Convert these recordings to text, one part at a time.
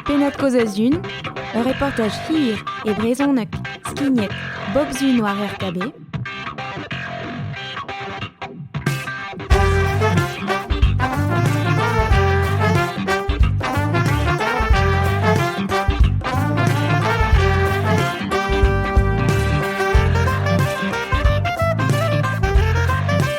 Pennad-kaoz a-zhun, ur reportaj hir e brezhoneg skignet bep Sun war RKB.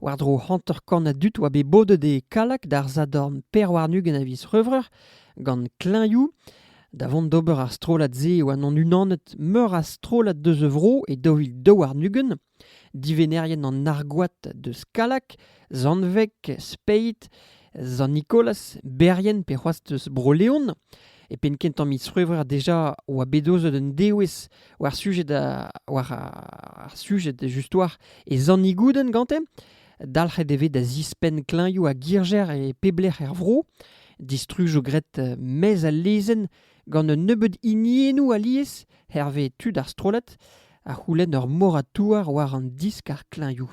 War-dro hanter-kant a dud oa bet bodet e Kallag d'ar sadorn pevar-ugent a viz C'hrevreur gant kleñvoù. Da vont d'ober ar strollad-se e oa an unanet meur a strollad deus a vro e daou vil daou warn-ugent. Divennerien an Argoad deus Kallag, Zanveg, Speiz, Sant-Nikolaz, Berrien pe c'hoazh deus Bro-Leon. E penn-kentañ miz C'hwevrer deja oa bet aozet un dewezh war sujed a- war ar sujed just war e Zanni Gouden gante. Dalc'het e vez da zispenn klañvioù a girjer e pep lec'h er vro. Distruj eo graet eh, maez al lezenn gant un nebeud hiniennoù alies hervez tud ar strollad, a c'houlenn ur moratouar war an disk ar klañvioù.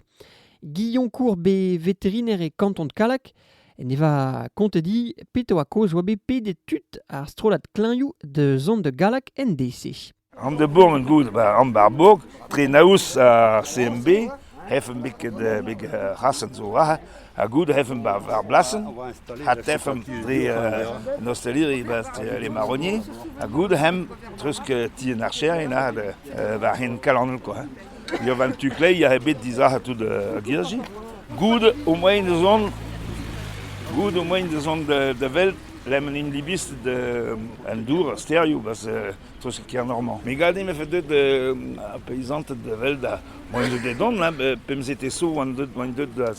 Guillaume Courbe, veteriner e kanton Kallag, Ne va kontet dit petra oa kaoz oa bet pedet tud ar strollad klañvioù da zont da Gallag en deiz-se. An de Bourg en goud, an Barbourg, tre naoz ar CMB, hefen biket big rasen zo raha, ha goud hefen bar blasen, hat hefen dre an osteleri dre les marronniers, ha goud hem tresk ti an archerien a war hen kalanel quoi. Ne oan tu kleier ebet dizalc'h tout ar girdi. Goude ho moain da zont, goude ho moain da zont da, da welet lemel an ilibiz da an dour, ar stêrioù, barzh treuzket Kernormand. Me gade me fait deuet ar paizanted da welet ar moain deuet da dont, là, pemzek eo 'zo oant deuet, oant deuet da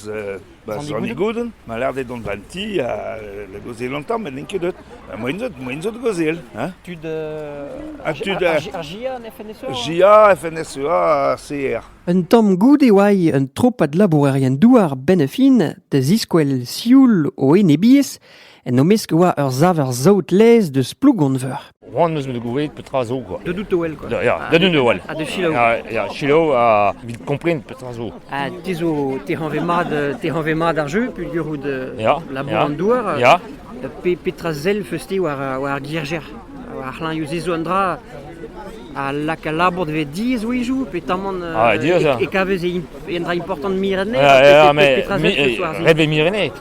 Ba Sonigoden, ma lec'h dezhe dont ganti ha da gaozeal an tamm, met n'en ket deut. Moen zot, moen zot gaozeal. Hein? Tud... Uh, tud ar GIA, FNSEA GIA, FNSEA, CR. Un tamm goude oa un tropad labourerien douar benn a fin da ziskwel sioul o enebiezh en o mesk e oa ur saver saout-laezh deus Plougonveur. C'hoant eus me gouzout petra zo quoi. De doutowel quoi. Da, ya, de doutowel. Ha de selaou. Ya, ya, selaou ha evit kompren petra zo. Ha te zo te hañve mat te hañve mat ar jeu peuldurout ya, labour ya, an douar. Ya. Pe, petra sell feus-te war, war ar gierjer ar c'hlanioù ze zo un dra a lak al labour dve diez oizou pe tamant ah, e, e, e kavez e un dra important mirenet ja, ja, me, mi, reve mirenet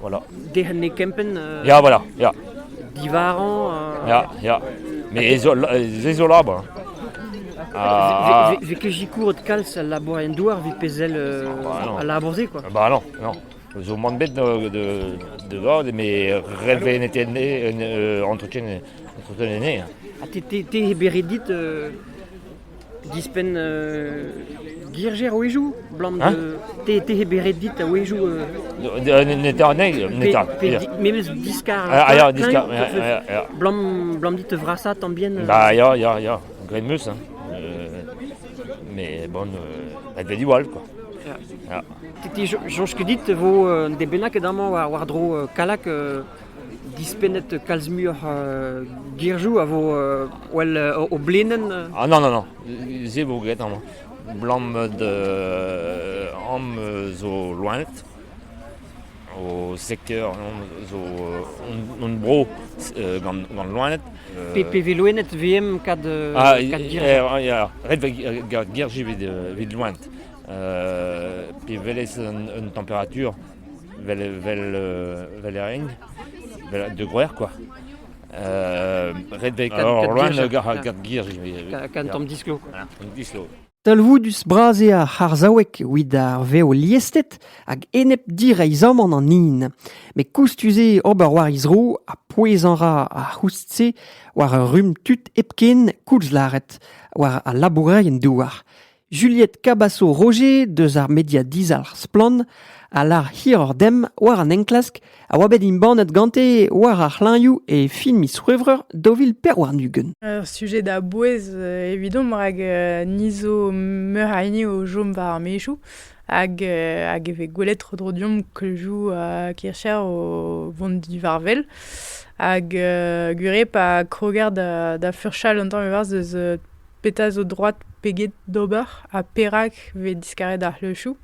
Voilà. Derc'henne kempenn euh, Ya, voilà, ya. Divarañ euh, Ya, ya. Mais ez zo labour. Ah, ah. Vez ket jikourot kalz al labour en douar vit pezel bah, al labour se quoi. Bah non, non. Zo man bet de de de va mais relve n'était né entretien entretien né. Ah t'es t'es beré dit Dispenn girjer a-wezhioù 'blam te eo beret dit a-wezhioù Netra anezhi Memes diskar Blam dit te vrasañ tamm bien Ba ya ya ya graet 'meus hein mais bon dat vez diwall quoi Te soñj ket dit e vo un den bennak ket amañ war-dro Kallag dispennet kalz muioc'h girzhoù a vo well o blenenn Ah non, non, non, se vo graet amañ. Blammet am zo loened, o sekteur zo hon bro gant loened. Pe vez loened VM kad ah, ret girji evit loened. Pe welez un température Vel, vel, vel e renk, vel de groer quoi. Euh, ret vel Alors, loin gant gir. Quand on dislo. Talvoudus bras eo ar c'harzhaoueg evit ar vev liestet hag enep direizhamant an hin. Met koustus eo ober war he zro ha pouezañ ra ar c'houst-se war ur rumm tud hepken koulz lâret war al labourerien douar. Juliette Cabaço-Roger deus ar media dizalc'h Splann a lar hiroc'h demp war an enklask a oa bet embannet gante war ar c'hlañioù e fin miz C'hwevrer daou vil pevar-ugent. Ur sujet da bouez euh, evidomp rak euh, ni zo meur a hini o chom war ar maezioù hag, euh, hag e vez gwelet tro-dro deomp kleuzioù uh, kircher o vont divarvel. Hag uh, gwir eo pa kroger da, da furchal un tamm evarzh eus petra zo droad peget d'ober ha perak vez diskaret ar c'hleuchoù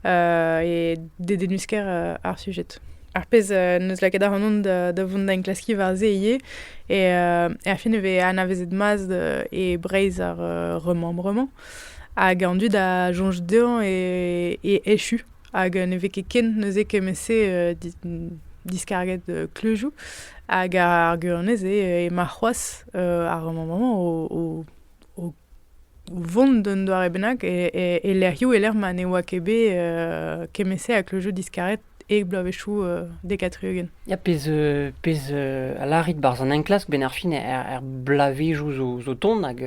e dedennus-kaer ar sujed. Ar pezh n'eus lakaet ac'hanon da da vont da enklaskiñ war-se ivez eo er fin e vez anavezet mat e Breizh ar remembrement hag an dud a soñj dezhañ e echu. Hag ne vez ket ken neuze kement-se diskarget kleuzioù. Hag ar gwirionez eo ema c'hoazh ar mañ-mañ o vont d'un doare bennak e lec'hioù e-lec'h ma ne oa ket bet kement-se a kleuzioù diskaret e bloavezhioù dek ha tri-ugent. Ya, pezh a lârit 'barzh an enklask, benn ar fin er bloavezhioù zo tont hag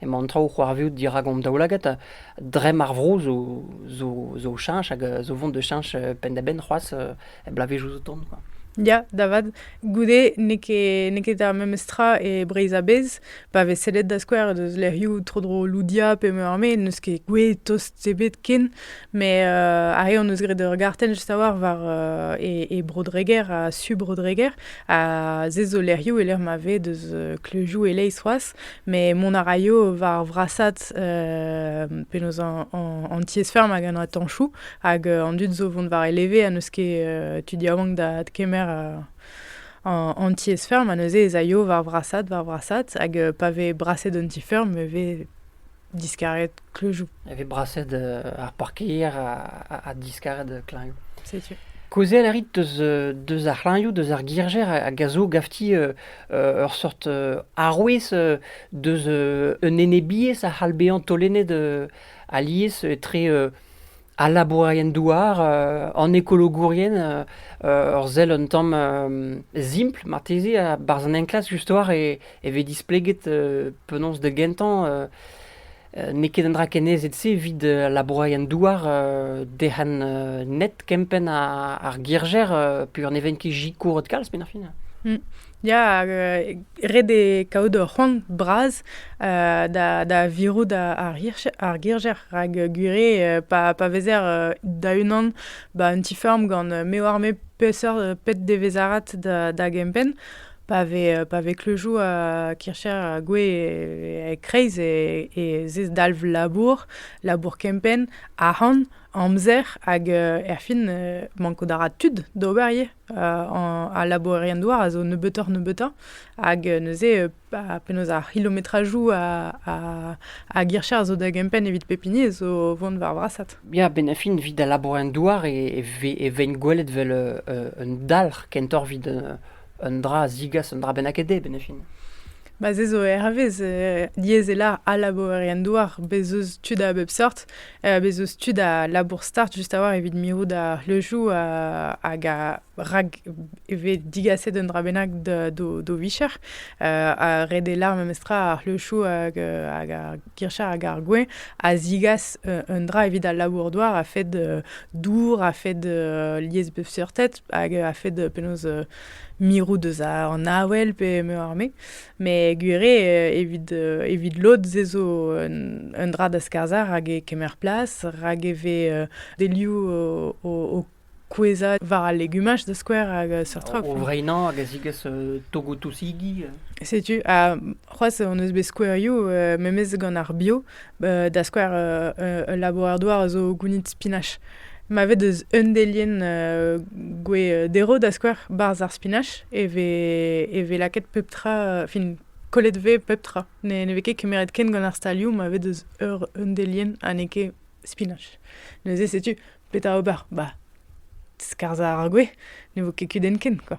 Emañ an traoù o c'hoarvezout dirak hon daoulagad. Dremm ar vro zo zo zo cheñch hag zo vont da cheñch penn-da-benn c'hoazh er bloavezhioù zo tont quoi. Ya, da vat. Goude n'eo ket n'eo ket ar memes tra e Breizh a-bezh. Pa vez sellet da skouer deus lec'hioù tro-dro Loudia pe Meurme n'eus ket gouez tost ebet ken. Met ar re hon eus graet ur gartenn just a-walc'h war e e Bro-Dreger ha su Bro-Dreger. Ha se zo lec'hioù e-lec'h ma vez deus kleuzioù e-leizh c'hoazh. Met mont a raio war vrasat euh, penaos an tiez-feurm hag an atanchou hag euh, an dud zo vont war e leve ha n'eus ket euh, tu diabank da kemer an tiez-feurm ha neuze ez aio war vrasat war vrasat hag pa vez braset an ti-feurm e vez diskaret kleujou. E vez braset ar parkeier a, diskaret klañvioù. C'est sûr. Kaozeal a rit deus, deus ar c'hlañvioù, deus ar girjer a, gaso gafti ur seurt arouez deus un enebiezh a c'hall bezañ taolennet alies etre al labourerien-douar, an ekologourien, ur sell un tamm simpl marteze a-barzh an enklask just-war e vez displeget penaos da gentañ N'eo ket un dra kenneset-se evit labourerien-douar derc'han net kempenn ar girjer peogwir ne vent ket sikouret kalz penn ar fin. Mm. Ya, ret eo kaout ur c'hoant bras da, da virout ar, ar girjer rak gure pa, pa vezer da-unan ba un ti-feurm gant me oar-me peseurt pet devezarat da, da gempenn Pa vez, pa vez kleujou ha kircher ha gwe e-kreiz e zez dalv labour, labour kempenn, arc'hant, amzer hag erfin mankout a ra tud d'ober ivez. Ar labourerien-douar a zo nebeutoc'h-nebeutañ hag neuze penaos ar c'hilometrajou a gircher a zo da gempenn evit pep hini a zo vont war vrasad. Ya, benn-ar-fin evit al labourerien-douar e veint gwelet 'vel un dalc'h kentoc'h evit un dra a zigas un dra bennaket dezhe benn fin. Ma se zo hervez euh, lieselañ al labourerien-douar, bez eus tud a bep sort, euh, bez eus tud a labour start just a-walc'h evit mirout le joù euh, hag a rak e vez digaset un dra bennak d'o vicher, a red e lar memestra ar le joù hag, hag ar girchar hag ar gouin a zigas un dra evit al labour-douar a-fed dour, a-fed lies bep seurtet, hag a fed penaos mirout eus an avel pe meur-me. Met gwir eo, evit, evit lod ez ezo un, dra da skarzhañ rak e kemer plas, rak e vez delioù o, kouezhañ war al legumaj da skouer hag seurt trok. O vreinañ hag a zigas togoù-tousigi. Setu, ha c'hoazh hon eus bet skouerioù memes gant ar bio, da skouer ul labourer-douar a zo gounid spinach. Ma vez deus un delienn gwez derv, da skouer, barzh ar spinach, e vez, e vez lakaet pep tra, fin, kollet vez pep tra. Ne, ne vez ket kemeret ken gant ar stalioù ma vez deus ur un delienn ha n'eo ket spinach. Neuze setu petra ober. Bah, skarzhañ ar gwez, ne vo ket kudenn ken, quoi.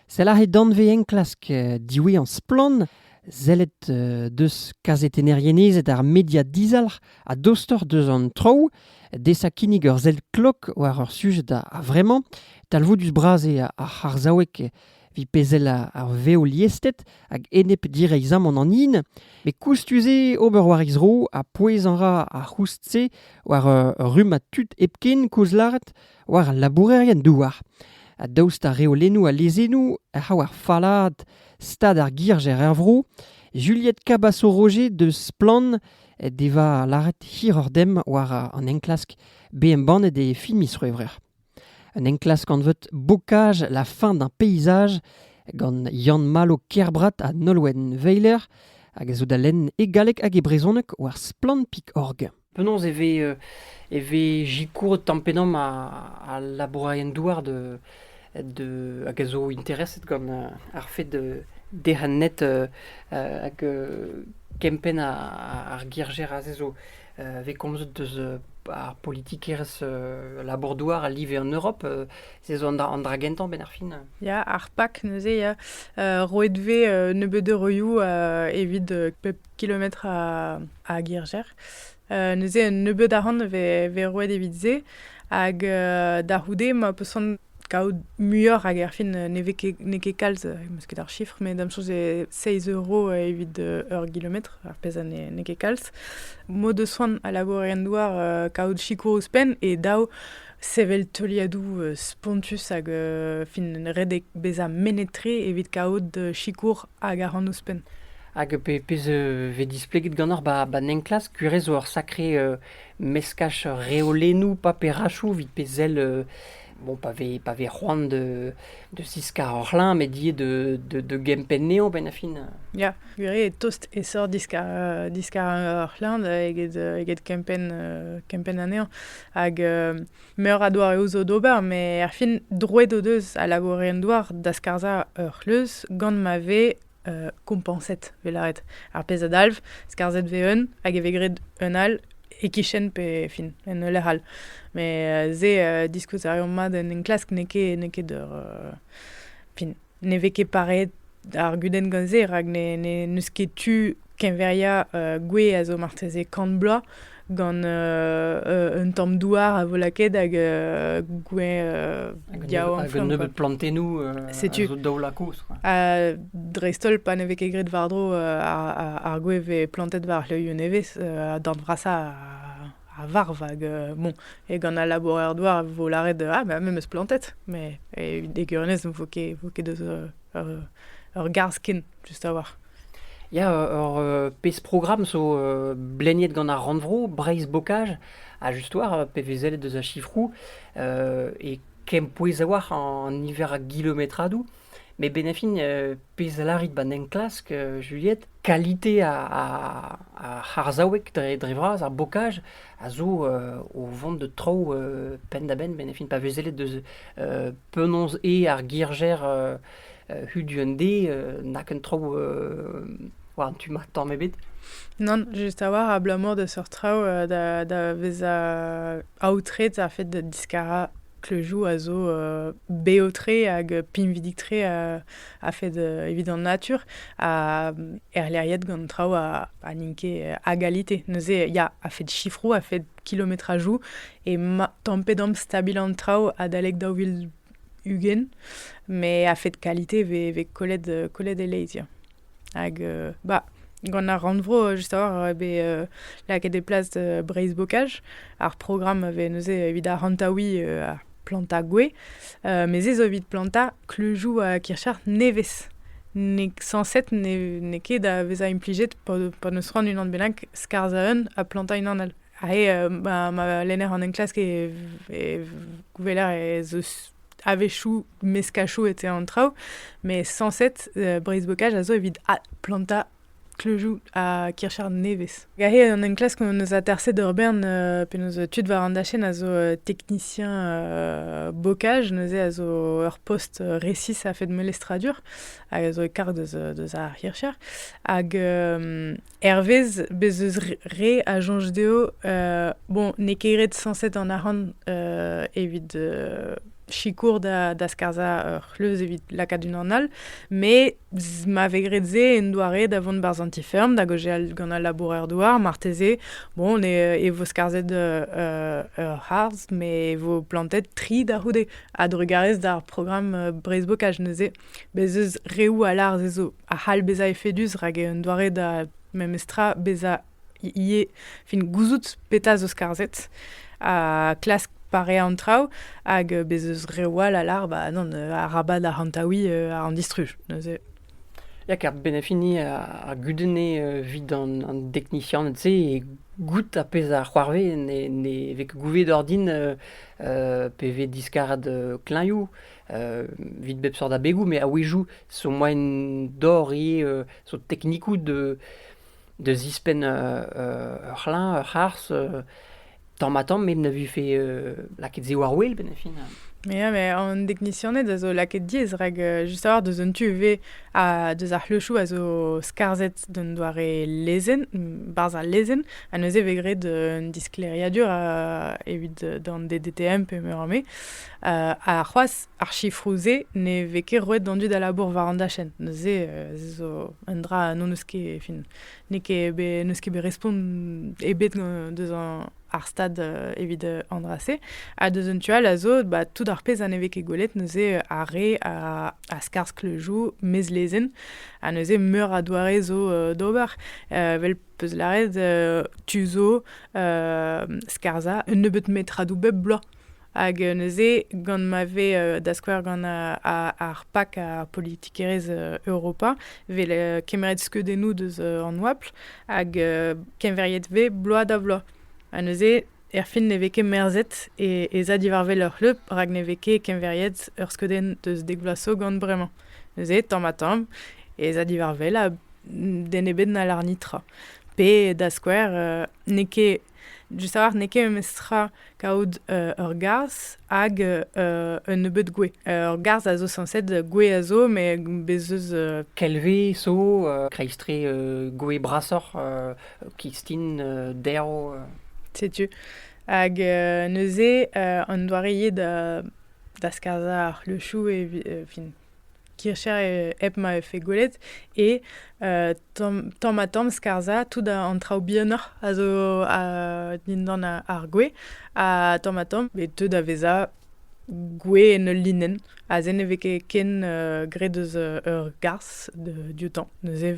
Sell aze danvez-enklask diwezhañ Splann! Sellet deus kazetennerien-ezed ar media dizalc'h ha dostoc'h deus an traoù. Desañ kinnig ur sell klok war ur sujed a-vremañ. Talvoudus-bras eo ar c'harzhaoueg evit pezh ar vev liested hag enep direizhamant an hin. Met koustus eo ober war he zro ha pouezañ ra ar c'houst-se war ur rummad tud hepken koulz lâret. war al labourerien-douar. Ha daoust ha reolennoù ha lezennoù a c'hav ar fallaad stad ar girjer er vro, Juliette Cabasso-Roger deus Splann devoa lâret hiroc'h dem war an enklask bet embannet e film isc'hwevrer. Un enklask anvet Bocage la fin d'un paysage gant Yann Malo Kerbrat ha Nolwenn Weiler hag a zo da lenn e galleg hag e brezhoneg war splann.org. Penaos e vez euh, e vez sikouret tamm-pe-damm a- al labourerien-douar de, de, hag a zo intereset gant euh, ar fed euh, derc'hennet euh, euh, hag euh, kempenn a- ar girjer aze zo euh, vez komzet deus euh, ar politikerezh euh, labour-douar a live en Europe. euh, se zo an dra, an dra gentañ benn ar fin. Ya, ar PAK neuze ya, euh, roet 'vez euh, nebeut euroioù euh, evit euh, pep kilometr a Girjer. neuze un nebeud arc'hant vez roet evit se. Hag da c'houde ma peus c'hoant kaout muioc'h hag erfin ne vez ket n'eo ket kalz, meus ket ar chiffre, met da'm soñj eo seizh euro evit ur gilometr, ar pezh a n'eo ket kalz. M'o deus c'hoant a labourerienn-douar kaout sikour ouzhpenn e dav sevel teuliadoù spontus hag fin redek bezañ mennet-tre evit kaout sikour Hag a ran ouzhpenn. Hag pe, pezh euh, vez displeget ganeoc'h ba, ba enklask, kuirez zo ur sakre euh, meskaj reolennoù paperachoù evit pe sell euh, bon, pa vez, pa vez c'hoant de, de ziskar ur c'hlañ, met ivez de, de, de gempenn anezhañ benn ar fin. Ya, gwir eo tost esor diskar, euh, diskar ur c'hlañ da eget, euh, eget kempenn, euh, kempenn anezhañ. Hag euh, Meur a doareoù zo d'ober, met er fin, droed o deus a labourerien-douar da skarzhañ ur c'hleuz gant ma vez uh, kompañset, vez lâret. Ar pezh a dalv, skarzhet vez un, hag e vez graet un all e-kichen pe fin, en ul lec'h all. Met uh, se, uh, diskouez a reomp mat en enklask n'eo ket, n'eo ket ur... Uh, fin, ne vez ket pareet ar gudenn gant se, rak n'eus ket tu keñveriañ uh, gwez a zo marteze kant bloaz gant uh, un tamm douar a vo lakaet hag uh, gwez uh, yaouank. Hag un nebeud plantennoù Setu. zo daoulakos. dreist-holl pa ne vez ket graet war-dro ar, ar, ar gwez vez plantet war c'hleuioù nevez, uh, d'an brasañ a varv hag euh, bon e gant al labourer-douar e vo lâret ah ben me meus plantet mais e egurnez vo ket vo ket deus euh, ur ur garzh ken just a-walc'h Ya, ur euh, pezh programm zo euh, bleniet gant ar rannvro, Breizh Bocage, a just war euh, PVZ deus a chifrou, euh, e kempouez a-walc'h an niver a gilometradoù. Met benefin, pezh a lârit 'ba 'n enklask, Juliette, kalite ar c'harzhaoueg dre dre vras, ar bokaj, a zo o vont da traoù penn-da-benn benefin pa vez sellet deus penaos eo ar girjer hudu-un-dé na ken traoù war an tu-mañ tamm ebet. Nann, just a-walc'h, abalamour da seurt traoù da vezañ aotret ar fed da diskarañ Kleujou a zo bev-tre hag pinvidik-tre a-fed evit an natur ha erleriet gant traoù a n'int ket a galite. Neuze ya, a-fed sifroù, a-fed kilometrajou emañ tamm-pe damm stabil an traoù adalek daou vil ugent, met a-fed kalite e vez kollet e-leiz ya. Hag euh, bah, gant ar rannvro, just a-walc'h, eo bet euh, lakaet e plas euh, Breizh-Bokaj. Ar programm a vez neuze evit ar hantaouiñ uh, ar plantañ gwez. Uh, Mes ez eo evit plantañ kleujoù a kircher nevez. N'eo sañset n'eo ket da vezañ implijet pa, pa n'eus c'hoant unan bennak skarzhañ un ha plantañ unan all. Ha he, uh, ma, ma lenner an enklask e, e gouveler ez eus a-wechoù meskachoù etre an traoù, mais sañset euh, breizh-bokaj a zo evit plantañ kleujoù ha kircher nevez. Gahe an enklask hon eus aterset ur bern euh, penaos tud war an dachenn a zo euh, teknisien euh, bokaj, neuze a zo ur post resis a-fed melestradur, hag a zo e karg deus, deus ar hircher. Hag Hervez bez eus re a soñj dezho, bon, n'eo ket ret sañset an arc'hant evit sikour da, da skarzhañ ur c'hleuz evit lakaat unan all, met ma vez graet se en doare da vont barzh an ti-feurm, da gaozeal gant al laboureur-douar, marteze, bon, e vo skarzhet ur c'harzh, met e vo plantet tri da c'houde. A-drugarez d'ar programm breizhbokaj neuze, bez eus reoù a lâr se zo. a c'hall bezañ efedus rak un doare da memes tra bezañ ivez fin gouzout petra zo skarzhet ha klask pareañ an traoù hag bez eus reoù all a lar ba non arabat arc'hantaouiñ uh, an distruj neuze Ya, ker benefini a, gudene evit an, an deknisianed-se e goût a pezh a c'hoarvez ne, ne vez ket gouvet ordin pe vez diskarad kleñioù Vit bep seurt abegoù, met a-wezhioù zo moaien dor ivez zo teknikoù da zispenn ur c'hlañv, ur c'harzh tamm-ha-tamm met ne vefe lakaet se war-wel benn ar fin. Ya, met an deknisianed a zo lakaet diaes rak just a-walc'h deus an tu ivez ha deus ar c'hleuchoù a zo skarzhet d'un doare lezenn, barzh al lezenn ha neuze e vez graet un disklêriadur evit d'an DDTM pe meur a me. ha c'hoazh ar sifroù-se ne vez ket roet d'an dud a labour war an dachenn. Neuze ez zo un dra n'on eus ket fin n'eo ket n'eus ket bet respont ebet deus ar stad evit an dra-se ha deus un tu all a zo ba tout ar pezh a ne vez ket gwelet neuze ar re a skarzh le joù mez lezenn ha neuze meur a doare zo d'ober vel peus lâret tu zo skarzhañ un nebeut metradoù bep bloaz. Hag neuze, gant ma vez da skouer gant ar PAC, ar politikerezh Europa, vez kemeret skeudennoù deus an oabl hag keñveriet vez bloaz da vloaz. Ha neuze, erfin ne vez ket merzet e za diwar wel ur c'hleub rak ne vez ket keñveriet ur skeudenn deus dek vloaz zo gant bremañ. Neuze, tamm-ha-tamm, e za diwar wel ha den ebet n'hallarni tra. Pe da skouer, n'eo ket Just a-walc'h n'eo ket memes tra kaout euh, ur garzh hag euh, euh, un nebeud gwez. ur garzh a zo sañset, gwez a zo, met bez eus... Euh, Kelve zo, euh, kreiztre euh, gwez brasoc'h, euh, kistin, euh, derv... Euh. Setu. Hag euh, neuze, euh, an doare eo da, da skarzhañ ar c'hleuchoù e fin. kircher hep ma vefe gwelet, e uh, tamm, tamm ha tamm skarzhañ tout an traoù bihanoc'h a zo uh, dindan ar gwez, ha tamm ha tamm e teu da vezañ gwez en ul linenn. Aze ne vez ket ken uh, graet eus ur garzh dioutañ, neuze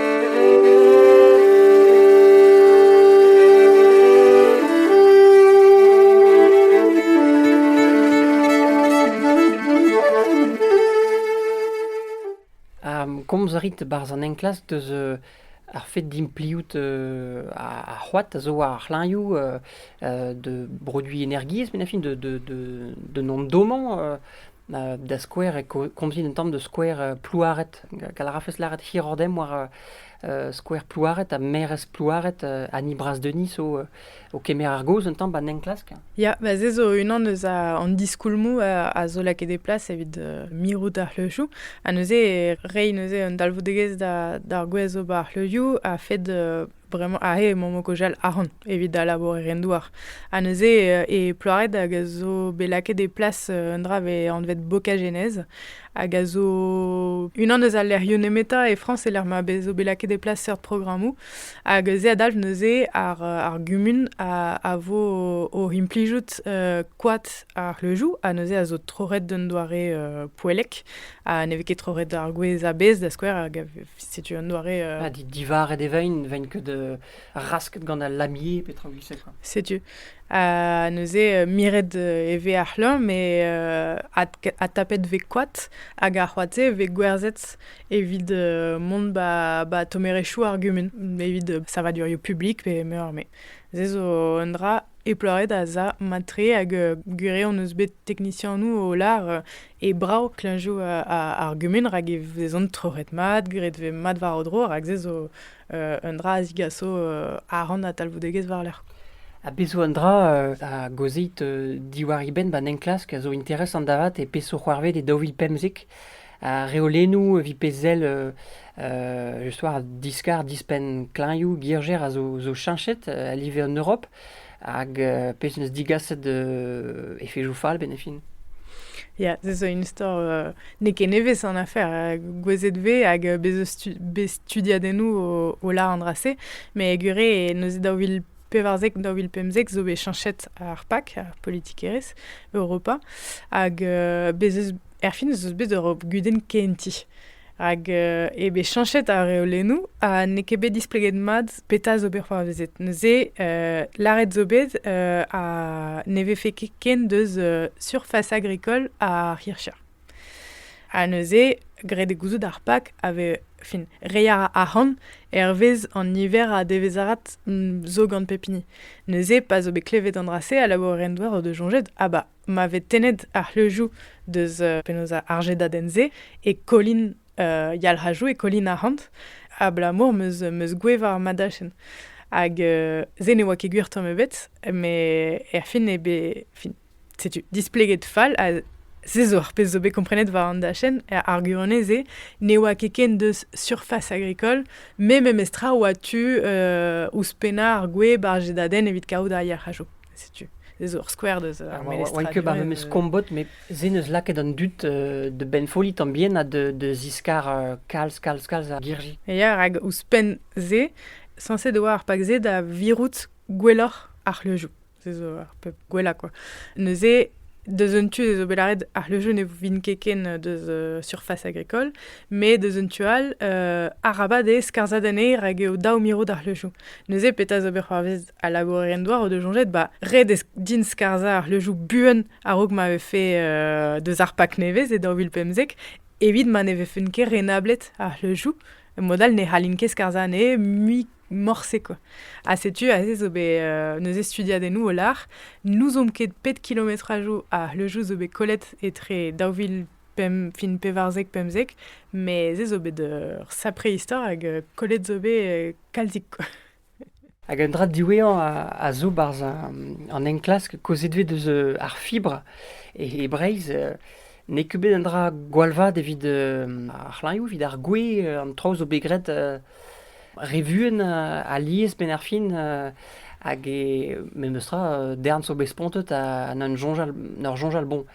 komz a rit barzh an enklask deus euh, ar fet d'impliout euh, ar c'hoad a zo war ar c'hlañioù euh, de produiñ energiezh, mais na fin de, de, de, de nom domant da skouer e komzin un tamm de skouer euh, Plouaret. Gall a rafes lâret hirordem war euh, skouer Plouaret ha merez Plouaret ha ni bras Denis o, o kemer ar gaoz un tamm ba enklask. Ya, ba se zo unan eus an diskoulmou a, zo lakaet e plas evit mirout ar c'hleuchou. Ha neuze, rei neuze un dalvoudegezh d'ar gwez o ba ar c'hleuchou a fed Bremañ aze emaomp o kojal ahont evit da labourer en douar. Ha neuze e Ploared hag a zo bet lakaet e plas un dra vez anvet Bokagenez hag a zo unan eus al lec'hioù nemetañ e Frañs e-lec'h ma zo bet lakaet e plas seurt programmoù. Hag se a dalv neuze ar, ar gumun a, a vo o implijout koad ar c'hleuzioù ha neuze a zo troc'het d'un doare poellek ha ne vez ket troc'het ar gwez a-bezh da skouer hag a Setu un doare... Euh, ah, divaret e vein, vein ket euh, rasket gant al lamier, petra ou quoi. Setu. Ha neuze, miret e ve ar c'hleur, me a tapet ve koat, hag ar c'hoate ve gwerzet evit mont ba, ba tomerechou ar gumun, evit savadurioù publik pe meur me. Se zo un dra eploret a za matre hag gure on eus bet teknisianou o lar e brav klañjoù ar gumun rak e vezont troc'het mat, graet vez mat war o dro rak se zo un dra a zigaso aran ha talvoudegezh war-lerc'h. Ha bez' zo un dra a gaozit diwar e benn ba'n enklask a zo interesant avat e peso c'hoarvet e daou vil pemzek. Ar reolennoù evit pezh sell just war diskar dispenn klañjoù girjer a zo cheñchet a live an Europ. Hag pezh en deus digaset efezoù fall benn fin. Ya, se zo un istor euh, n'eo ket nevez an afer. Euh, Gwezhet vez hag euh, bez bez studiadennoù o, o la an dra-se. Mais gure, neuze daou vil pevarzek, daou vil pemzek zo bet chanchet ar PAC, ar politikerezh, Europa. Hag euh, bez eus, erfin eus eus bet Europe gudenn kenti. Hag euh, eo bet chanchet ar reolennoù ha n'eo ket bet displeget mat Petra zo bet c'hoarvezet? Neuze, euh, lâret zo bet euh, ha ne vefe ket ken deus euh, surface agricole ar Hircha. Ha neuze, graet e gouzout ar Pak a ve, fin, rei a ra arc'hant hervez an niver a devezarat mm, zo gant pep hini. Neuze, pa zo bet klevet an dra-se, a labour en doar o de jonjet, ah ba, ma vez tennet ar c'hleujou deus euh, penaos ar jedaden-se, e kolin euh, yalc'hajou e Colin Arhant, abalamour meus, meus goueva ar madachenn. Hag euh, se ne oa ket gwir tamm ebet, met er fin eo bet... Fin, setu, displeget fall ha se zo ar pezh zo bet komprenet war an dachenn, ar arguanez se ne oa ket ken deus surface agricole, me memestra oa tu euh, ouzhpennañ ar gweb ar jedadenn evit kaout ar yalc'hajo. setu ez zo ur skouer deus ar memes oan ket bar memes kombot met se neus lakaet an dud de benfolli tan bien ha de de ziskar kalz kalz kalz ar girji ya rak ouzhpenn se sañset e oa ar pak se da virout gwelloc'h ar c'hleujoù se zo ar pep gwellañ quoi neuze deus un tu ez zo bet lâret ar c'hleujoù ne vin ket ken deus uh, surface agricole mais deus un tu all uh, arabat eo skarzhat anezhe rak eo dav mirout ar c'hleujoù neuze petra zo bet c'hoarvez a laboure en doa o de soñjet ba ret eo din skarzhañ ar c'hleujoù buan a-raok ma vefe euh, deus ar pak nevez e daou vil pemzek evit ma ne vefen ket renablet ar c'hleujoù mod all ne c'hallin ket skarzhañ anezhe mui morse quoi. Ha setu aze zo bet euh, neuze studiadennoù o lar n'ouzon ket pet kilometrajoù a c'hleujoù zo bet kollet etre daou vil pem, fin pevarzek pemzek mais ez zo bet ur sapre istor hag euh, kollet zo bet euh, kalzik quoi. Hag un dra diwezhañ a zo 'barzh an enklask kaozeet 'vez deus ar fibr e Breizh. N'eo ket bet un dra gwall vat evit ar c'hlanvioù, evit ar gwez, an traoù zo bet graet re vuan alies benn ar fin hag e memes tra darn zo bet spontet ha n'en soñjal n'ur soñjal bon.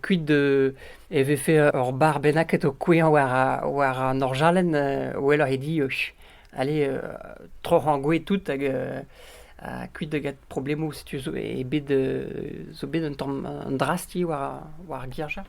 Kuit e vefe ur bar bennaket o kouezhañ war an orjalenn 'weloc'h e di Allez, euh, troc'h angoue tout hag euh, ha kuit da get problemoù setu zo eo bet euh, zo bet un tamm un drasti war war ar girja.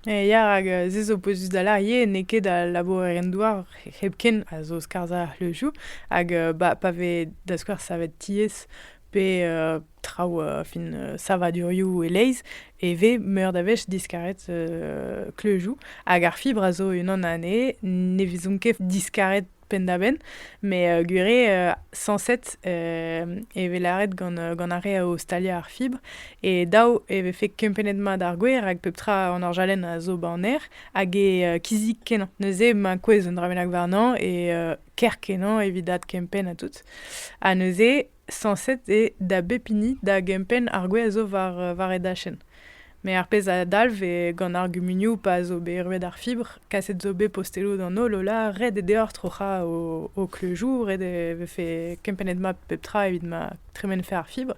E ya rak euh, se zo pouezus da larie n'eo ket al labourerien-douar hepken a zo skarzhañ le jou hag euh, ba, pa vez da skouer savet tiez pe euh, traoù euh, fin euh, savadurioù e-leizh e vez meur da wech diskaret euh, kleujoù hag ar fibr a zo unan anezhe ne vezont ket diskaret penn-da-benn, mais gwir eo sañset e vez lâret gant, gant ar re o staliañ ar fibr. E daou e vefe kempennet mat ar gwer rak pep tra an orjalenn a zo ba an aer hag e kizik kenañ. Neuze emañ kouezh un dra bennak warnañ e kerkenañ evit adkempenn ha tout. Ha neuze Sañset eo da bep hini da gempenn ar gwez a zo war e dachenn. Met ar pezh a dalv eo gant ar gumunioù pa zo bet ruet ar fibr, kaset zo bet posteloù d'an holl Ola, ret eo deoc'h troc'hañ ho kleuzioù, ret eo vefe kempennet mat pep tra evit ma tremenfe ar fibr.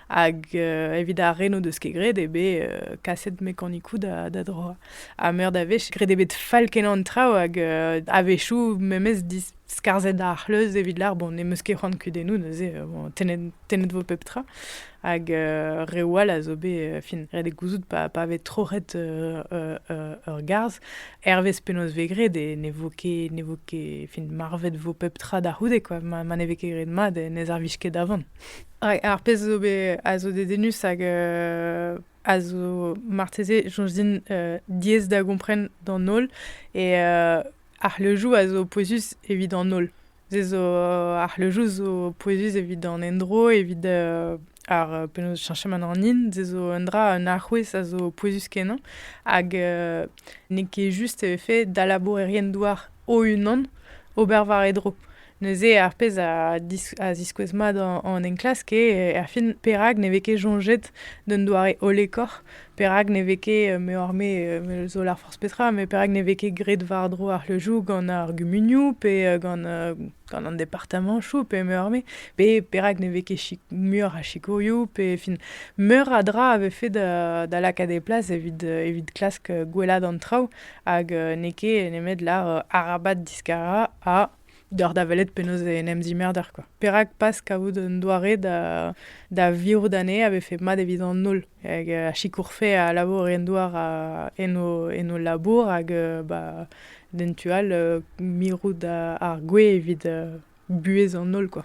Hag evit ar re n'o deus ket graet eo bet kaset mekanikoù da droañ. Ha meur da wech, graet eo bet fall-kenañ an traoù hag a-wechoù memes skarzhet ar c'hleuz evit lar bon ne meus ket c'hoant kudennoù neuze bon, tennet, tennet vo pep tra hag euh, reoù all a zo bet euh, fin ret eo gouzout pa, pa vez troc'het euh, euh, euh, ur garzh hervez penaos vez graet e ne vo ket ne vo ket fin marvet vo pep tra da c'houde quoi ma, ma ne vez ket graet mat e ne servij ket da vont ar pezh zo bet a zo dedennus hag euh, a zo marteze soñj din euh, diaes da gompren d'an holl et euh, Ar c'hleuzioù a zo pouezus evit an holl. Se zo ar c'hleuzioù zo pouezus evit an endro, evit ar penaos cheñchamant an hin. Se zo un dra, un alc'houez a zo pouezus-kenañ hag n'eo ket just e vefe da labourerien-douar o-unan ober war e dro. Neuze, ar pezh a ziskouez mat an enklask eo erfin perak ne vez ket soñjet d'un doare hollekoc'h, perak ne vez ket, meoc'h-me zo lâr forzh petra, met perak ne vez ket graet war-dro ar c'hleuzioù gant ar gumunioù pe gant an departamantoù pe meoc'h-me, pe perak ne vez ket muioc'h a sikourioù pe fin meur a dra a vefe da lakaat e plas evit klask gwellaat an traoù hag n'eo ket nemet lâr arabat diskarañ ha Deoc'h da welet penaos en em zimerder quoi. Perak pas kavout un doare da, da virout anezhe a vefe mat evit an holl hag euh, a sikourfe a labour en douar a, en, o, en o labour hag euh, ba, d'en tu all euh, mirout ar gwez evit buhez an holl quoi.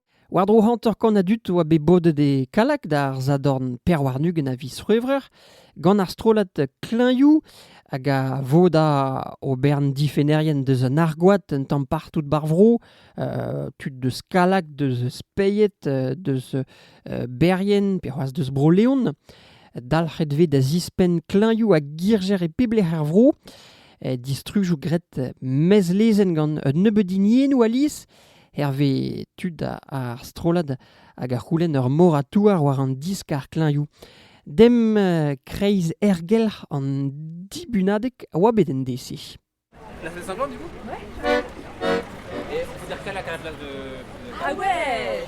War-dro hanter-kant a dud a oa bet bodet e Kallag d'ar sadorn pevar-ugent a viz C'hwevrer gant ar strollad Klañvioù hag a voda o bern difennerien deus an argoad un tamm partout ba'r vro, tud deus Kallag, deus Speied, deus Berrien pe c'hoazh deus Bro-Leon. Dalc'het vez da zispenn klañvioù ha girjer e pep lec'h er vro. Distrujoù graet mezlezenn gant un nebeud hiniennoù alies. hervez tud ar strollad hag a c'houlenn ur mor a touar war an diskar klañvioù. Dem kreiz ergelc'h an dibunadeg a oa bet en dese. La salle Saint-Jean, du coup Ouais. Et on peut dire qu'à la classe de... Ah ouais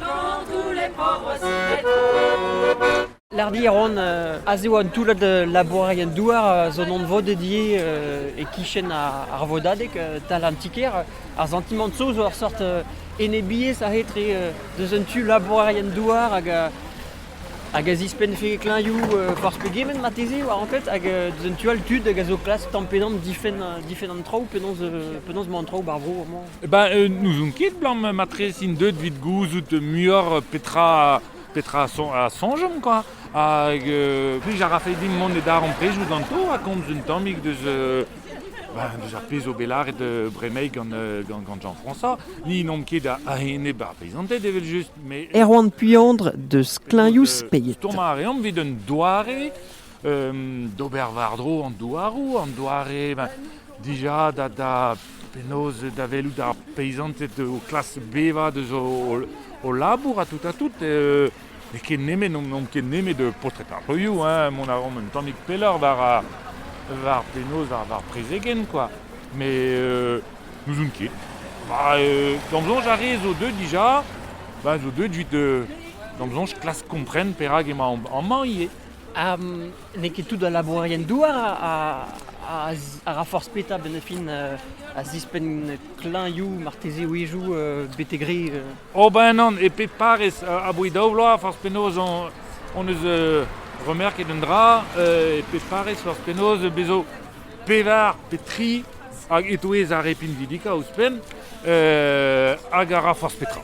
Tantoù les pauvres Lardi a ran a zo un toullad labourerien-douar zo anvodet ivez e-kichen ar vodadeg tal an ti-kêr. Ar santimant-so zo ur sort enebiezh a-etre deus un tu labourerien-douar hag hag a zispennfe klañvioù forzh pegement marteze war anklet hag deus un tu all tud hag a zo klask tamm-pe-damm difenn an traoù penaos emañ an traoù ba'r vro amañ. Eh ben, euh, n'ouzon ket, Blanc, matre int deuet evit gouzout muioc'h petra, petra a, son- a soñjomp, quoi. Hag euh, plij a rafe dimp mont e darempredoù ganto ha komz un tammig deus, euh, ben, deus ar pezh zo bet lâret euh, bremaik gant, euh, gant, gant Jean-François. Ni n'omp ket a- a-enep ar peizanted, evel-just, mais Erwan Puandre deus Kleñoù-Speiz. Stourmañ a reomp evit un doare euh, d'ober war-dro an douaroù, an doare ben, Dija da, da penaos da welout ar peizanted o klask bevañ deus o, o labour ha tout ha tout. N'eo ket nemet, n'omp ket nemet paotred ar c'heuioù, hein, mont a raomp un tammig pelloc'h war ar, war penaos ar, war prezegenn, quoi. Mais euh, n'ouzon ket. Bah, euh, d'am soñj ar re zo deuet dija, bah, zo deuet 'vit euh, d'am soñj klask kompren perak emañ amañ ivez. N'eo ket tout al labourerien-douar a ra forzh petra benn fin a zispenn klañvioù, marteze wezhioù betek re. Ober ennon e pep parrez aboe daou vloaz, forzh penaos hon eus remerket un dra, e pep parrez forzh penaos bez zo pevar pe tri hag e-touez ar re pinvidikañ ouzhpenn, hag a ra forzh petra.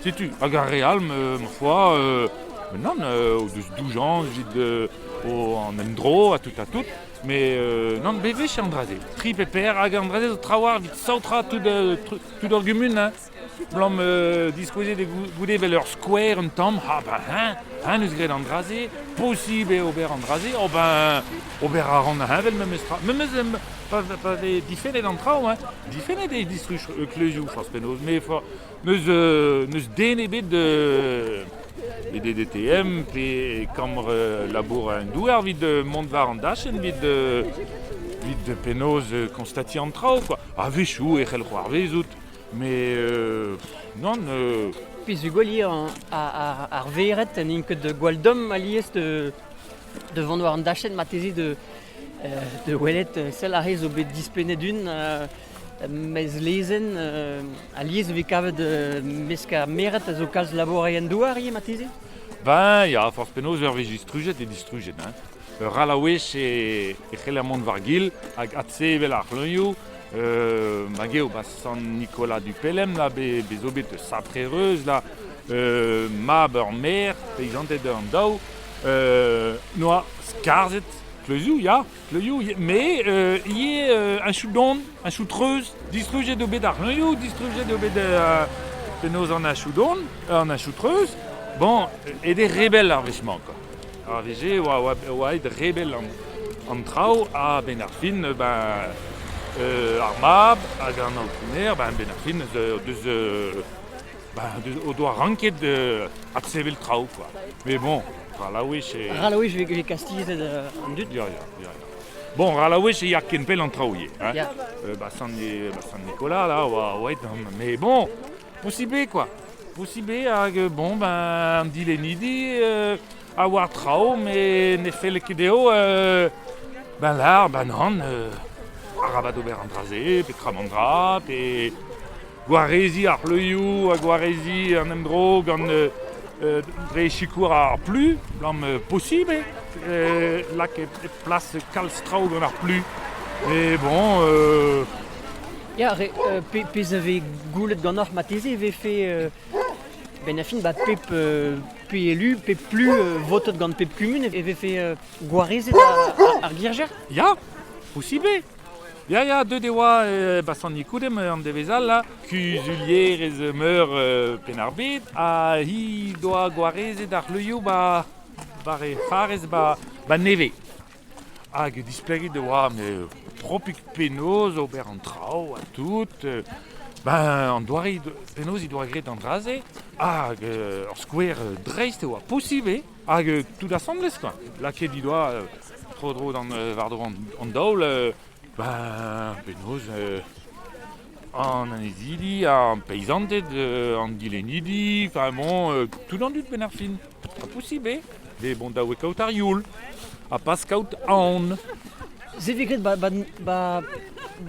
Setu, hag ar re all, ma foi, ben nann, o deus doujañs evit an endro ha tout ha tout. Mais nann, be wech an dra-se. Tri pe per, hag an dra-se zo traoù evit saotrañ tout ur gumun. Hein. Blam diskouezet goude vel ur skouer un tamm, ha ben hein, hein eus graet an dra-se, posibl eo ober an dra-se, o ben ober a ran heñvel memes tra. Memes pa vez difennet an traoù, hein. difennet eo distruj kleuzioù forzh penaos, mais N'eus den ebet pe DDTM pe kambr labour un douar evit mont war an dachenn evit penaos konstatiñ an traoù. A-wechoù e c'hell c'hoarvezout, met non. Pezhugolier ar vered n'int ket gwall domm alies de vont war an dachenn marteze de welet sell ar re zo bet dispennet un Mezlezenn, alies e vez kavet mesk ar mered a zo kalz labourerien-douar ivez marteze Ben, ya, forzh penaos ur wech distrujet eo distrujet. Hein. Ur all a wech e, e c'heller mont war-gil hag adse evel ar c'hleunioù. Euh, hag eo ba Sant-Nicolas du Pelem là, be, bezo bet saprereus là, euh, mab ur maer, peizanted an daou, euh, noa skarzhet kleuzioù, ya. Kleuzioù me ivez achu don, achu treuz. Distrujet eo bet ar c'hleuzioù, distrujet eo bet uh, penaos an achu don, an achu treuz. Bon, ed eo rebel ar wech-mañ quoi. Ar wech-se e oa, oa, oa aet rebel an, an traoù a-benn ar fin ben, uh, ar mab hag an aotrouner, ben, ben ar fin deus, deus Bah, o doa ranket euh, adsevel traoù, quoi. Mais bon, Ralaouech e... Ralaouech vez kastilhez an dud Ya, ya, ya. ya. Bon, Ralaouech e ya ken pell an traoù ivez. Hein? Ya. Euh, bah, San, bah, San Nicolas, là, oa, oa Mais bon, possible, quoi. Possible, hag bon, ben, an dilennidi euh, a oa traoù, mais ne felle ket dezho euh, ben là, ben nan, euh, arabat ober an dra-se, petra man dra, pe gwareziñ ar c'hleuzioù ha gwareziñ an endro gant dre sikour ar plu, gant posibl eo lakaet hep plas kalz traoù gant ar plu. E bon, Ya, re, euh, pe, pezh a vez goulet ganeoc'h marteze e vefe euh, benn a fin ba pep euh, pe élu, pep plu euh, votet gant pep kumun e vefe euh, gwarezet ar, ar, ar girjer. Ya, posibl eo. Ya, ya, deuet e oa e Basanicoude an devezh all, kuzulierez meur Penn-ar-Bed, ha he doa gwarezet ar c'hleuzioù ba, war he farrez ba, ba nevez. Hag displeget e oa tropik penaos ober an traoù ha tout. Ben, an doare penaos he doa graet an dra-se, hag ur skouer dreist e oa posibl eo. Hag tout asambles quoi. Lakaet he doa tro-dro d'an war-dro an daol ba penaos an annezidi, ar peizanted, an dilennidi, enfin bon tout an dud benn ar fin. Ha posibl eo bet bon da wet kaout ar youl ha pas kaout aon. Se vez graet ba, ba, ba,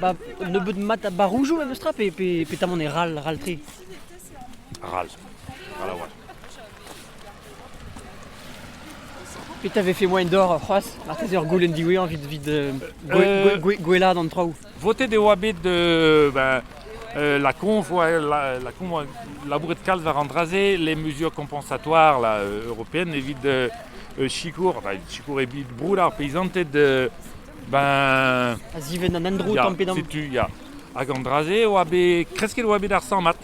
ba nebeut mat ba roujoù memes tra pe, pe, petamant e ral, ral-tre. Ral, ral a-walc'h. Petra vefe moaien d'ober c'hoazh marteze ur goulenn diwezhañ evit, evit euh, gwellaat an traoù Votet e oa bet euh, ben, euh, la conf, ouais, la, la conf labouret kalz war an dra-se, les mesures compensatoires la, européennes evit euh, sikour, ben, sikour evit broud ar peisanted euh, ben... A ziven an endro tamm pe damm. Setu, ya. Hag an dra-se oa bet, kresket oa bet ar samat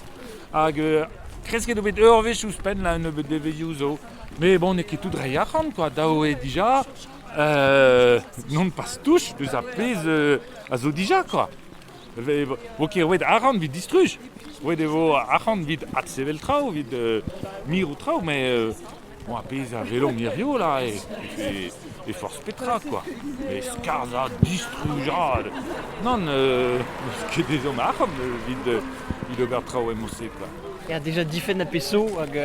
Hag euh, kresket eo bet ur wech ouzhpenn là un nebeud devezhioù zo. Mais bon, n'eo ket tout reiñ arc'hant quoi. Dav eo dija. Euh, non pas touche deus ar pezh euh, a zo dija quoi. Ve- vo ket roet arc'hant vit distruj. Roet e vo arc'hant vit adsevel traoù, vit euh, mirout traoù, mais euh, Oa pezh a welomp hirio la e forzh petra quoi. Met skarzhañ, distrujañ, nann, n'eus ket ezhomm a arc'hant evit ober traoù emañ-se quoi. Ya, déjà difenn a peso hag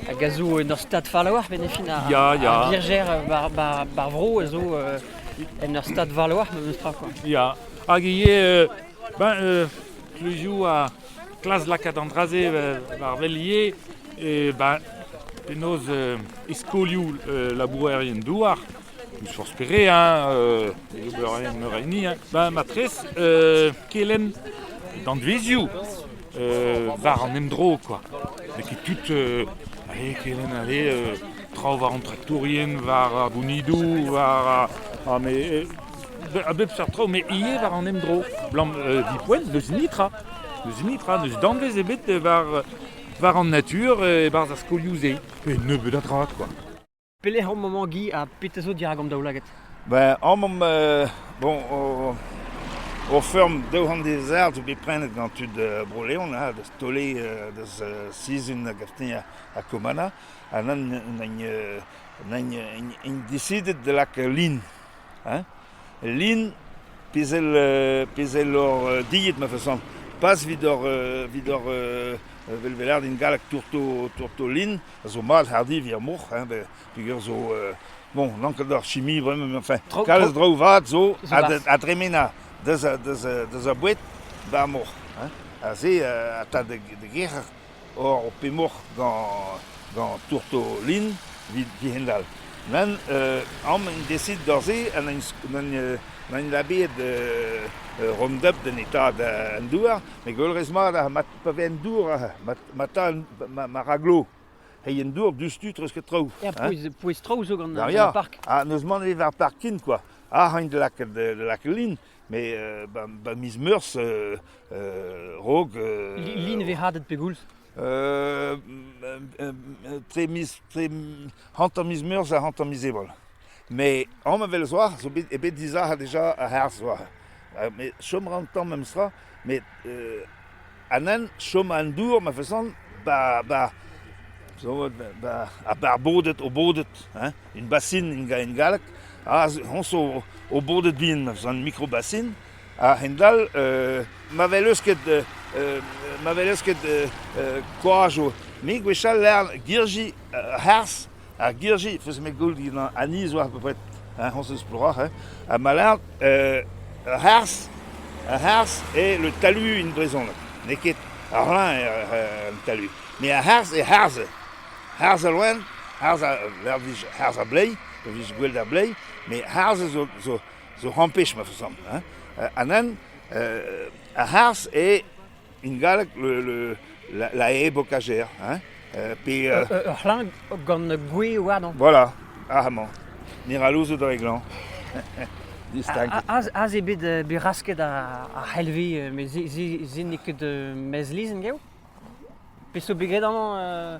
hag a zo en ur stad fall a-walc'h, met fin ar, ya, ya. ar Virgère bar, bar, bar vro a zo euh, en ur stad fall a-walc'h, memes tra quoi. Ya, hag ivez, euh, ben, euh, tous les jours à, Klask lakaat an dra-se war wel ivez ben, penaos e skolioù labourerien-douar, n'eus forzh pere, obererien meur a hini, ben, matrez, kelenn danvezioù war an endro, quoi. N'eo ket tout Allez, kelenn, allez, traoù war an traktourien, war ar gounidoù, war... Ar, a bep seurt traoù, met ivez war an emdro. Blam, euh, Vipoen, n'eus nitra. N'eus nitra, n'eus danvez ebet war, war an natur e-barzh ar skolioù-se. Pe nebeut a dra, quoi. Pelec'h omp maman Guy ha petra zo dirak an daoulagad Ben, omp euh, bon, o, o feurm daou c'hant dezert zo bet prenet gant tud uh, Bro-Leon, da stole uh, deus uh, sizhun a gaftin ha Komana, ha nan nain uh, nain, decided de lak lin hein Lin, pezh èl pezh èl hor dilhad ma feson, pas evit hor evit hor velvelerien din gallek tourto tourto lin a zo mat hardiñ ar moc'h hein beñ peger zo bon n'on ket ur chimie vraiment enfin Tro- kalz tro- draoù vat zo zo a barzh. a dremena deus a deus a deus a boued ba'r moc'h hein ha se a ta da da gerc'hat. Or pemoc'h gant tourtolin evit dihendall. Nann, amañ en desit doc'h-se ha n'en labeet Roundup d'an Etad an Douar met gwellerez mat mat pa vez an dour ma ta ma raglo. Reiñ an dour diouzhtu treuzket traoù. Ya, pouez-traoù zo gant ar park. Ha n'eus mann ebet war parking kwa. Ac'h aint da lakaat lin. Met ba miz Meurzh raok... Li ne vez hadet pegoulz Tre miz hanter miz Meurzh ha hanter miz Ebrel. Met an avel zo bet ebet dizac'h deja a-herz zo. Met chom a ra an tamm memestra. met an hent chom an dour ma fasan ba ba zo vat ba ar ar bodet o bodet hein un basin en galleg aze hon zo o bodet bihan ma fasan mikrobasin a-hend-all ma welez ket ma welez ket koaj me gwechall 'lec'h girji a-harz Ar girji, feus-me goll dindan aniz oa bepred, hein, hon eus ploroc'h, hein, ha ma lâret, ur c'harzh, ur c'harzh eo le talu en brezhoneg, n'eo ket ar rin eo an talu, met ar c'harzh eo c'harzh, c'harzh al loen, c'harzh a lec'h vije c'harzh ar bleiz, pa vije gwell d'ar bleiz, met c'harzh zo zo zo c'hoant pech ma feus amañ, hein, anezhañ ar c'harzh eo En galleg la e bokajer, hein pe... Ur c'hlañv gant gwe warnañ. Voilà, amañ. Mirallouzoù dre glañv. Aze eo bet bet rasket ar c'helvi, met se n'eo ket mezlizh gaou. Peseurt bet graet amañ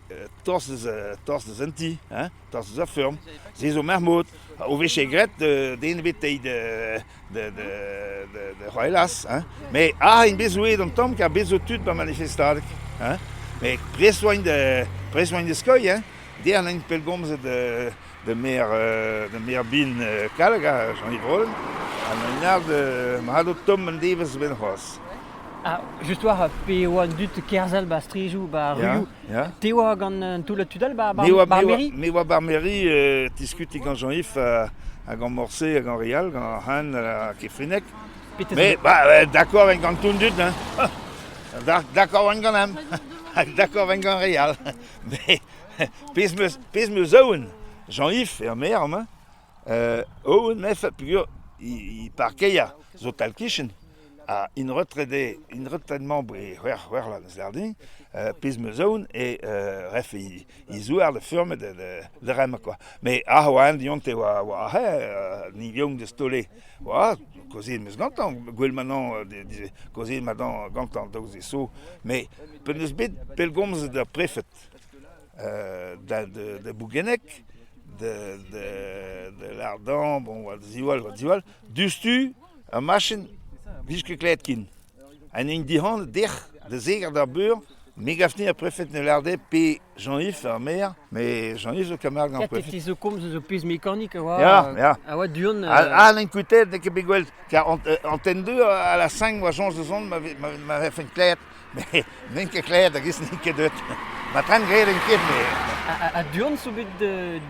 tostez, tostez en ti, hein? tostez a feurm. Se zo mermout. O vije graet den ebetei da c'hoelas, hein? Me a int bet zouet an tamm, kar bet zo tud ba manifestadeg, hein? Me prest oaint da, prest oaint da skeuilh, hein? Der n'int pellgomzet da maer bihan Kallag, Janrivolen, ha an ard mat o tomm an devezh benn c'hoazh. Ah, just war, pe eo an dud kerzhel ba strijoù, ba ruioù, te oa gant an toullad tud all ba Barmeri? Me oa Barmeri, diskuti gant Jean-Yves ha gant Morse ha gant Rial, gant Han ha Kefrinec. Mais bah, d'accord en gant tout dud, hein. D'accord en gant ham. D'accord en gant Rial. Mais pezh 'meus pezh 'meus aon Jean-Yves er-maer mañ aon mefe peogwir he parkeier zo tal-kichen ha int retrede int retraitement e c'hwec'h c'hwec'h vloaz n'eus lec'h din pezh 'meus aon eo refe he zouar da feurmet da remañ kwa met ah oa eñ dionte oa oa ni vient da staolet oa kaozeet 'meus gantañ gwell manon kaozeet manon gantañ daoust d'e so met pe n'eus bet pellgomzet d'ar prefed da Bougenneg, da Lardan, bon, oa ziwall, oa ziwall. Diouzhtu, ur machin, vije ket klevet ken. An hini dic'hant, dec'h, da zeger d'ar beur, me gafni ar prefed ne larde pe Jean-Yves ar maer, mais Jean-Yves le camarade ar prefed. Fils de Combe, zo pez mécanique a oa, ya, ya. a oa du-hont. Ah, n'en kutet, n'en ket bet gwell, car en ten deux, à la cinq, oa Jean Jezon m'avait fait klevet. met n'en ket klet hag-ez n'int ket deut. Ma tren graet en ket, me. Ha du-hont zo bet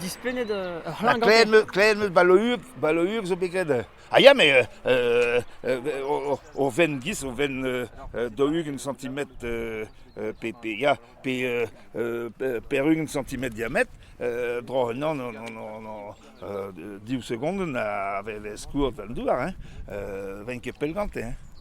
dispennet ur c'hlann gante Klet meus balour, balour zo bet graet. Ha ya, mais o ven gis, o ven dougent centimetre pe, pe, ya, pe perugent centimetre diamètre, bro, non, non, non, non, div segondenn a vez skourr d'an douar, hein, ven ket pell gante, hein.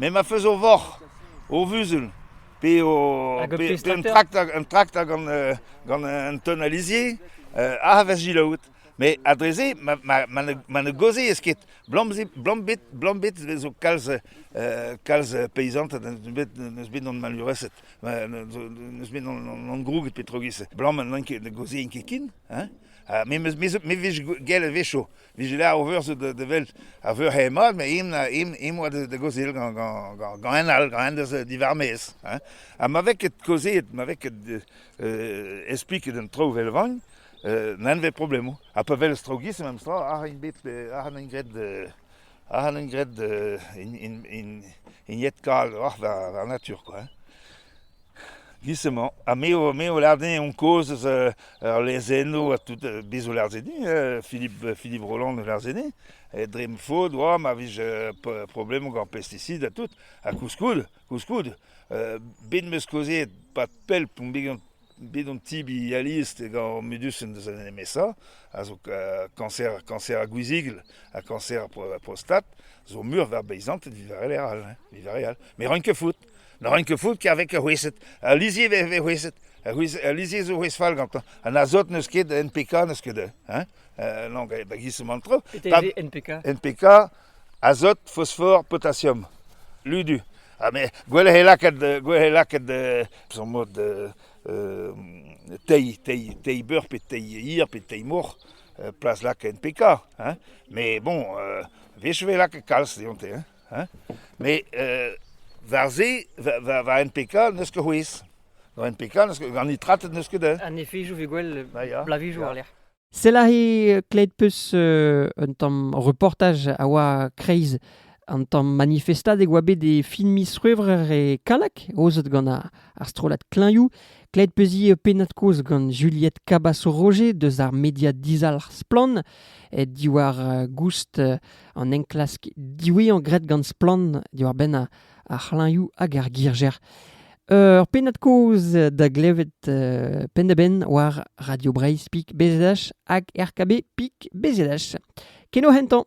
Me ma feus o voc'h, o vuzul, pe o pe un trakter un trakter gant gant un teun a lizher a vez selaouet. Met ha dre-se ma ma ma ne gaozez ket. Blambet blambet zo kalz kalz peizanted n'eus bet n'eus bet gant maleureset. N'eus bet gant grouget petrogiz. Blam n'en ket ne gaozien ket ken. Me me vez gell a-wechoù. Vije ler o veur da welt a veur hemad, met im oa da gaozeal gant en all, gant en deus divarmez. Ha ma vez ket kaozeet, ma vez ket espliket an traoù vel vagn, n'en vez problemoù. Ha pa welez traoù gis, memes tra, ac'h an bet, ac'h an graet ac'h an graet in jet kal, oc'h da natur, quoi. Giz emañ ha me o me o lâr din kozh eus ur lezennoù ha tout bez zo lâret din Philippe Philippe Rolland o lâret din dre ma faot oa ma vez problemoù gant pesticid ha tout ha koulskoude koulskoude bet 'm eus kaozeet pad pell p'on bet an tibi alies gant Medusen deus an MSA a zo kañser kañser ar gwizigl ha kañser ar prostat zo meur war beizanted evit ar re all hein evit ar re all met roin ket faot. Ne ran ket faot kavec ar c'hwezhed. Al lizher e vez c'hwezhet. Al lizher zo c'hwezh fall gantañ. An azot n'eus ket, NPK n'eus ket. Hein? Euh, non, da giz an tro. NPK NPK, azot, phosphore, potassium. Ludu. Ha me, gwell he lakaat, gwell he lakaat son mod tei, tei, tei beur pe tei hir pe tei mor, plas lak NPK. Hein? Mais bon, wech e lakaat kalz deonte. Hein? Met war se, war NPK n'eus ket c'hwezh. War NPK gant nitratet n'eus ket un. An efejoù vez gwell blavijoù war-lec'h. Selahi klet peus un tamm reportaj a oa kreiz an tamm manifestad e oa bet e fin miz C'hwevrer e Kalak, aozet gant ar strollad Klañioù. Klet peuzi pennad kozh gant Juliette Cabasso-Roger deus ar media dizalc'h Splann, diwar goust an enklask diwezhañ graet gant Splann diwar-benn ar c'hlañvioù hag ar girjer. Ur pennad-kaoz da glevet penn-da-benn war Radio Breizh pik BZH hag RKB pik BZH. Keno hentañ!